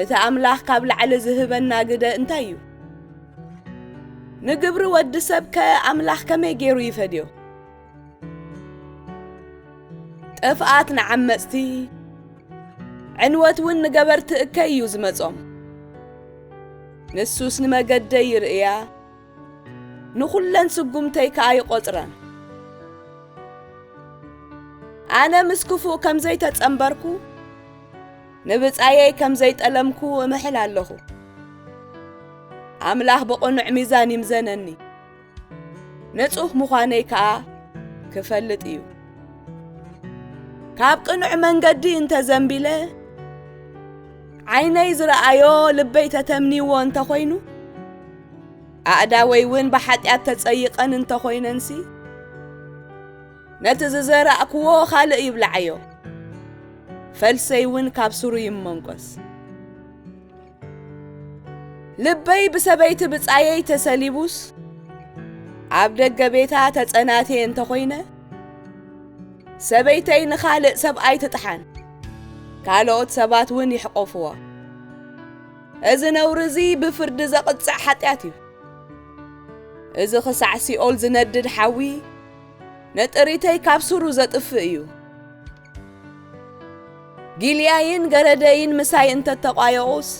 እቲ ኣምላኽ ካብ ላዕሊ ዝህበና ግደ እንታይ እዩ? ንግብሪ ወዲ ሰብከ ኣምላኽ ከመይ ገይሩ ይፈድዮ? ጥፍኣት ንዓመጽቲ ዕንወት እውን ንገበርቲ እከይ እዩ ዝመጾም። ንሱስ ንመገደይ ይርእያ ንዅለን ስጉምተይ ከኣ ይቖጽረን። ኣነ ምስ ክፉእ ከም ዘይተጸምበርኩ ንብጻየይ ከም ዘይጠለምኩ እምሕል ኣለኹ። ኣምላኽ ብቕኑዕ ሚዛን ይምዘነኒ፣ ንጹህ ምዃነይ ከኣ ክፈልጥ እዩ። ካብ ቅኑዕ መንገዲ እንተ ዘንቢለ ዓይነይ ዝረኣዮ ልበይ ተተምኒዎ እንተ ዀይኑ ኣእዳወይ እውን ብሓጢኣት ተጸይቐን እንተ ዀይነንሲ ነቲ ዝዘራእክዎ ኻልእ ይብላዓዮ፣ ፈልሰይውን ካብ ሱሩ ይመንቈስ። ልበይ ብሰበይቲ ብጻየይ ተሰሊቡስ፣ ኣብ ደገ ቤታ ተጸናትየ እንተ ኾይነ፣ ሰበይተይ ንኻልእ ሰብኣይ ትጥሓን፣ ካልኦት ሰባትውን ይሕቆፍዋ። እዚ ነውሪ እዚ ብፍርዲ ዘቕጽዕ ሓጢኣት እዩ። እዚ ኽሳዕ ሲኦል ዝነድድ ሓዊ፣ ነጥሪተይ ካብ ሱሩ ዘጥፍእ እዩ። ጊልያይን ገረደይን ምሳይ እንተተቋየቑስ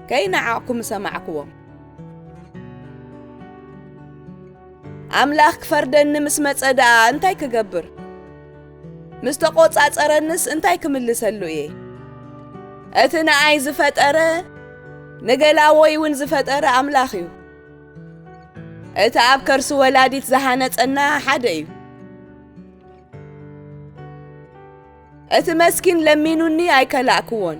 ከይነዓቕኩ ምሰማዕክዎም። ኣምላኽ ክፈርደኒ ምስ መጸ ደኣ እንታይ ክገብር? ምስ ተቖጻጸረንስ እንታይ ክምልሰሉ እየ? እቲ ንኣይ ዝፈጠረ ንገላዎይ እውን ዝፈጠረ ኣምላኽ እዩ። እቲ ኣብ ከርሲ ወላዲት ዝሃነጸና ሓደ እዩ። እቲ መስኪን ለሚኑኒ ኣይከላእክዎን፣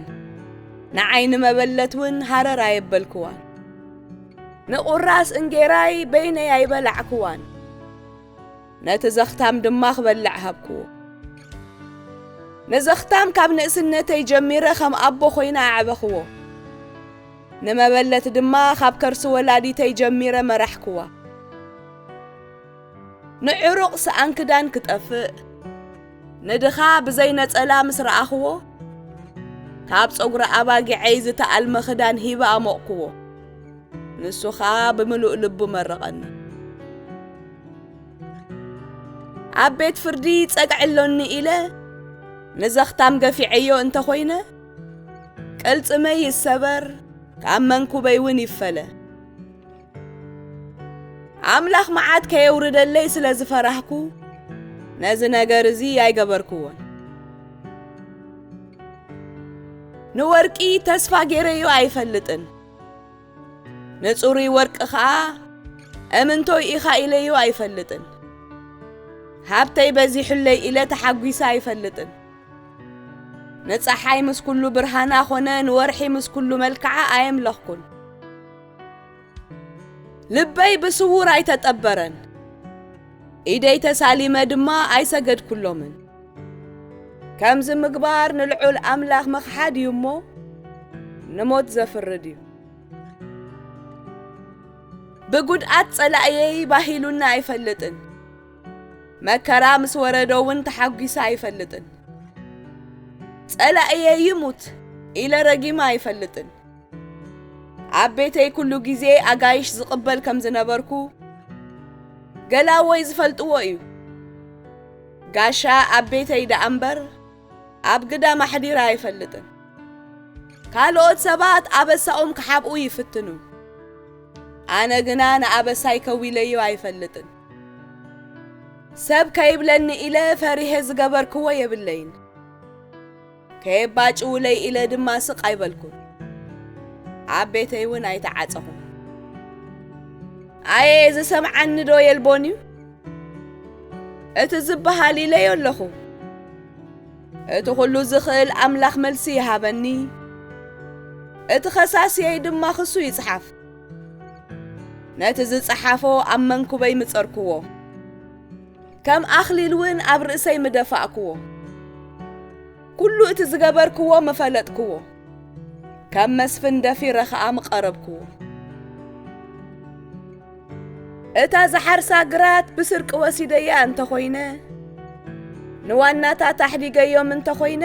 ንዓይ ንመበለት እውን ሃረር ኣየበልክዋን። ንቑራስ እንጌራይ በይነይ ኣይበላዕክዋን፣ ነቲ ዘኽታም ድማ ክበልዕ ሃብክዎ። ንዘኽታም ካብ ንእስነተይ ጀሚረ ከም ኣቦ ኾይነ ኣዕበኽዎ። ንመበለት ድማ ኻብ ከርሲ ወላዲተይ ጀሚረ መራሕክዋ። ንዕሩቕ ሰኣን ክዳን ክጠፍእ፣ ንድኻ ብዘይ ነጸላ ምስ ረኣኽዎ፣ ካብ ጸጕሪ ኣባጊዐይ ዝተኣልመ ኽዳን ሂበ ኣሞቕክዎ። ንሱ ኸኣ ብምሉእ ልቡ መረቐኒ። ኣብ ቤት ፍርዲ ጸግዒ ኣሎኒ ኢለ ንዘኽታም ገፊዐዮ እንተ ዀይነ፣ ቅልጽመይ ይሰበር ካብ መንኩበይ እውን ይፈለ ኣምላኽ መዓት ከየውርደለይ ስለ ዝፈራህኩ ነዚ ነገር እዚ ኣይገበርክዎን ንወርቂ ተስፋ ገይረዮ ኣይፈልጥን ንጽሩይ ወርቂ ኸዓ እምንቶይ ኢኻ ኢለዮ ኣይፈልጥን ሃብተይ በዚሑለይ ኢለ ተሓጒሰ ኣይፈልጥን ንፀሓይ ምስ ኩሉ ብርሃና ኾነ ንወርሒ ምስ ኩሉ መልክዓ ኣየምለኽኩን። ልበይ ብስውር ኣይተጠበረን፣ ኢደይ ተሳሊመ ድማ ኣይሰገድኩሎምን። ከምዚ ምግባር ንልዑል ኣምላኽ ምኽሓድ እዩ እሞ ንሞት ዘፍርድ እዩ። ብጉድኣት ጸላእየይ ባሂሉና ኣይፈልጥን። መከራ ምስ ወረዶ እውን ተሓጒሰ ኣይፈልጥን። ጸላእየ ይሙት ኢለ ረጊመ ኣይፈልጥን። ኣብ ቤተይ ኩሉ ግዜ ኣጋይሽ ዝቕበል ከም ዝነበርኩ ገላወይ ዝፈልጥዎ እዩ። ጋሻ ኣብ ቤተይ ደኣ እምበር ኣብ ግዳም ኣሕዲራ ኣይፈልጥን። ካልኦት ሰባት ኣበሳኦም ክሓብኡ ይፍትኑ። ኣነ ግና ንኣበሳይ ከዊለዮ ኣይፈልጥን። ሰብ ከይብለኒ ኢለ ፈሪሔ ዝገበርክዎ የብለይን፣ ከየባጭውለይ ኢለ ድማ ስቕ ኣይበልኩን፣ ኣብ ቤተይ እውን ኣይተዓጸኹን። ኣየ ዝሰምዓኒ ዶ የልቦን እዩ? እቲ ዝበሃል ኢለዮ ኣለኹ። እቲ ዅሉ ዝኽእል ኣምላኽ መልሲ ይሃበኒ፣ እቲ ኸሳስየይ ድማ ክሱ ይጽሓፍ። ነቲ ዝጸሓፎ ኣብ መንኩበይ ምጸርክዎ ከም ኣኽሊል እውን ኣብ ርእሰይ ምደፋእክዎ ኩሉ እቲ ዝገበርክዎ ምፈለጥክዎ ከም መስፍን ደፊረ ኸኣ ምቐረብክዎ እታ ዝሓርሳ ግራት ብስርቂ ወሲደያ እንተኾይነ ንዋናታት ኣሕዲገዮም እንተኾይነ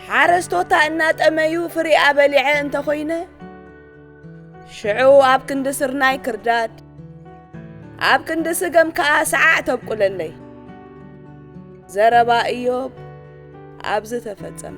ሓረስቶታ እናጠመዩ ፍሪኣ በሊዐ እንተኾይነ ሽዑ ኣብ ክንዲ ስርናይ ክርዳድ ኣብ ክንዲ ስገም ከዓ ሰዓዕ ተብቁለለይ ዘረባ እዮብ ኣብዚ ተፈጸመ